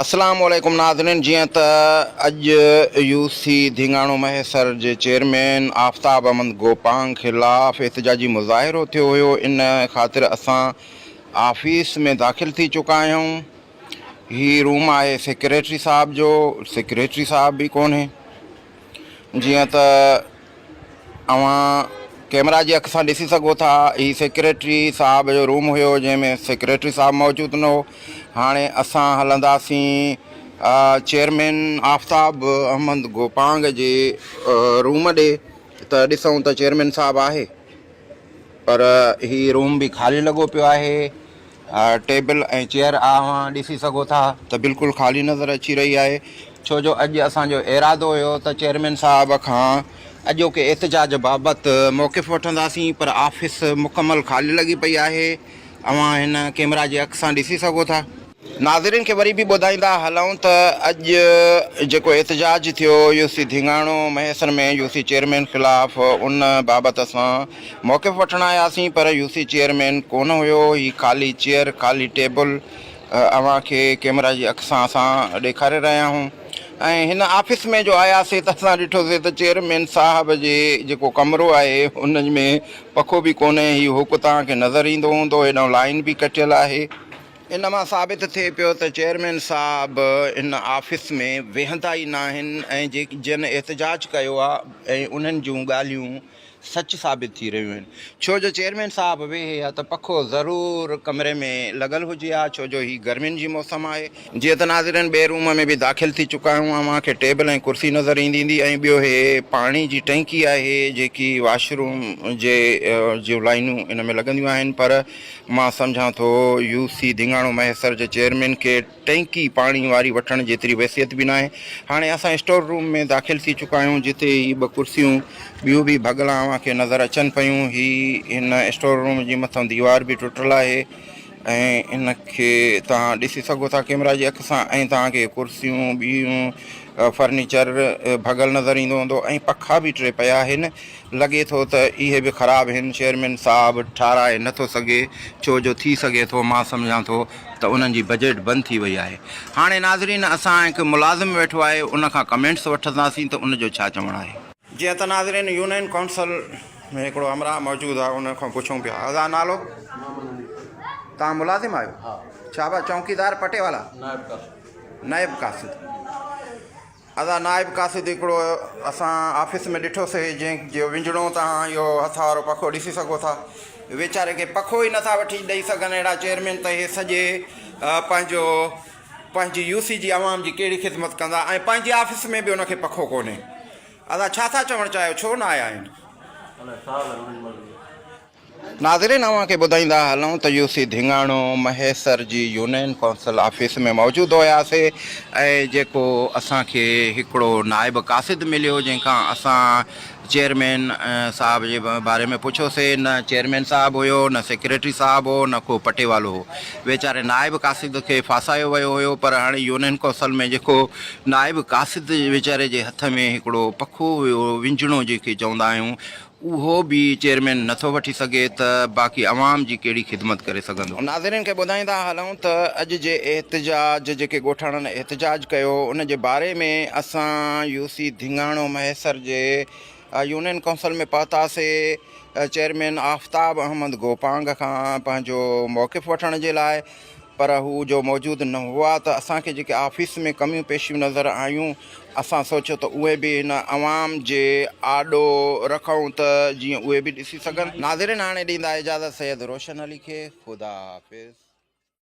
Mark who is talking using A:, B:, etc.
A: السلام عليڪم ناظرين جيئن ته اڄ يو سي ڌينگاڻو مهيسر جي چيئرمين آفتاب احمد گوپانگ خلاف احتجاجي مظاهرو ٿيو هيو ان خاطر اسان آفيس ۾ داخل ٿي چڪا آهيون هي روم آهي سيڪريٽري صاحب جو سيڪريٽري صاحب به ڪونهي جيئن ته اوهان ڪئميرا جي اک سان ڏسي سگهو ٿا هي سيڪريٽري صاحب جو روم هيو جنهن ۾ سيڪريٽري صاحب موجود نه هو هاڻي اسان هلنداسين چيئرمين آفتاب احمد گوپانگ جي روم ڏي ته ڏسون ته چيئرمين صاحب آهي پر هي روم به خالي لڳو پيو آهي ٽيبل ۽ چيئر اوهان ڏسي سگهو ٿا ته بلڪل خالي نظر اچي رهي آهي ڇو جو اڄ اسان جو ارادو هيو ته چيئرمين صاحب کان اڄوڪي احتجاج بابت موقف وٺنداسين پر آفيس مڪمل خالي لڳي پئي آهي اوهان هن ڪيمرا جي اک سان ڏسي سگهو ٿا. ناظرين کي وري به ٻڌائيندا هلون ته اڄ جيڪو احتجاج ٿيو U C Dhingano Mahesar ۾ U C chairman خلاف ان بابت اسان موقف وٺڻ آياسين پر يو سي چيئرمين ڪونه هيو، هي خالي چيئر، خالي ٽيبل اوهان کي ڪيمرا جي اک سان اسان ڏيکاري رهيا آهيون ۽ هن آفيس ۾ جو آياسي ته اسان ڏٺوسي ته چيئرمين صاحب جي جيڪو ڪمرو آهي ان ۾ پکو به ڪونهي، هي هوڪ توهان کي نظر ايندو هوندو هيڏانهن لائين به ڪٺيل آهي. ان مان ثابت ٿئي پيو ته چيئرمين صاحب ان آفيس ۾ ويهندا ئي ناهن ۽ جن احتجاج ڪيو آهي ۽ انهن جون ڳالهيون سچ ثابت ٿي رهيون آهن ڇو جو چيئرمين صاحب ويهي ها ته پکو ضرور ڪمري ۾ لڳل هجي ها ڇو جو هي گرمين جي موسم آهي. جيئن ته ناظرين ٻئي روم ۾ به داخل ٿي چڪا آهيون اوهان کي ٽيبل ۽ ڪرسي نظر ايندي ايندي ۽ ٻيو هي پاڻي جي ٽئنڪي آهي جيڪي واش روم جي جون لائينون ان ۾ لڳنديون آهن پر مان سمجهان ٿو يو سي ڌينگاڻو مهيسر جي چيئرمين ڪيٽ ٽينڪي پاڻي واري وٺڻ جيتري ويسيت به ناهي. هاڻي اسان اسٽور روم ۾ داخل ٿي چڪا آهيون، جتي هي ٻه ڪرسيون ٻيون به ڀڳلا اوهان کي نظر اچن پيون. هي هن اسٽور روم جي مٿئون ديوار به ٽٽل آهي ۽ ان کي توهان ڏسي سگهو ٿا ڪيمرا جي اک سان ۽ توهان کي ڪرسيون ٻيون فرنيچر ڀڳل نظر ايندو هوندو ۽ پکا به ٽي پيا آهن لڳي ٿو ته اهي به خراب هن چيئرمين صاحب ٺاراهي نه ٿو سگهي ڇو جو ٿي سگهي ٿو مان سمجهان ٿو ته انهن جي بجيٽ بند ٿي وئي آهي هاڻي ناظرين اسان هڪ ملازم ويٺو آهي ان کان ڪمينٽس وٺنداسين ته ان جو ڇا چوڻ آهي. جيئن ته ناظرين يونين ڪائونسل ۾ هڪڙو همراهه موجود آهي ان کان پڇون پيا ادا نالو توهان ملازم آهيو ڇا ڀا چونڪيدار پٽيوالا نائب قاصد. ادا نائب قاصد هڪڙو اسان آفيس ۾ ڏٺو سي جنهن جو وڃڻو توهان اهو هٿ وارو پکو ڏسي سگهو ٿا ويچاري کي پکو ئي نٿا وٺي ڏئي سگهن اهڙا چيئرمين ته اهي سڄي پنهنجو پنهنجي يو سي جي عوام جي ڪهڙي خدمت ڪندا ۽ پنهنجي آفيس ۾ به ان کي پکو ڪونهي ادا ڇا ٿا چوڻ چاهيو ڇو نه آيا آهن. ناظرين اوهان کي ٻڌائيندا هلون ته يو سي ڌينگاڻو مهيسر جي يونين ڪونسل آفيس ۾ موجود هياسي ۽ جيڪو اسان کي هڪڙو نائب قاصد مليو جنهن کان اسان چيئرمين صاحب جي باري ۾ پڇيوسي نه چيئرمين صاحب هيو نه سيڪريٽري صاحب هو نه ڪو پٽيوالو هو ويچاري نائب قاصد کي ڦاسايو ويو هيو پر هاڻي يونين ڪونسل ۾ جيڪو نائب قاصد ويچاري جي هٿ ۾ هڪڙو پکو هيو ونجڻو جنهن کي چوندا آهيون اهو به چيئرمين نٿو وٺي سگهي ته باقي عوام جي ڪهڙي خدمت ڪري سگهندو. ناظرين کي ٻڌائيندا هلون ته اڄ جي احتجاج جيڪي ڳوٺاڻن احتجاج ڪيو ان جي باري ۾ اسان يو سي ڌينگاڻو مهيسر جي يونين ڪونسل ۾ پهتاسي چيئرمين آفتاب احمد گوپانگ کان پنهنجو موقف وٺڻ جي لاء پر هو جو موجود نه هئا ته اسان کي جيڪي آفيس ۾ ڪميون پيشيون نظر آيون، اسان سوچيو ته اهي به هن عوام جي آڏو رکون ته جيئن اهي به ڏسي سگهن. ناظرين هاڻي ڏيندا اجازت سيد روشن علي کي خدا حافظ.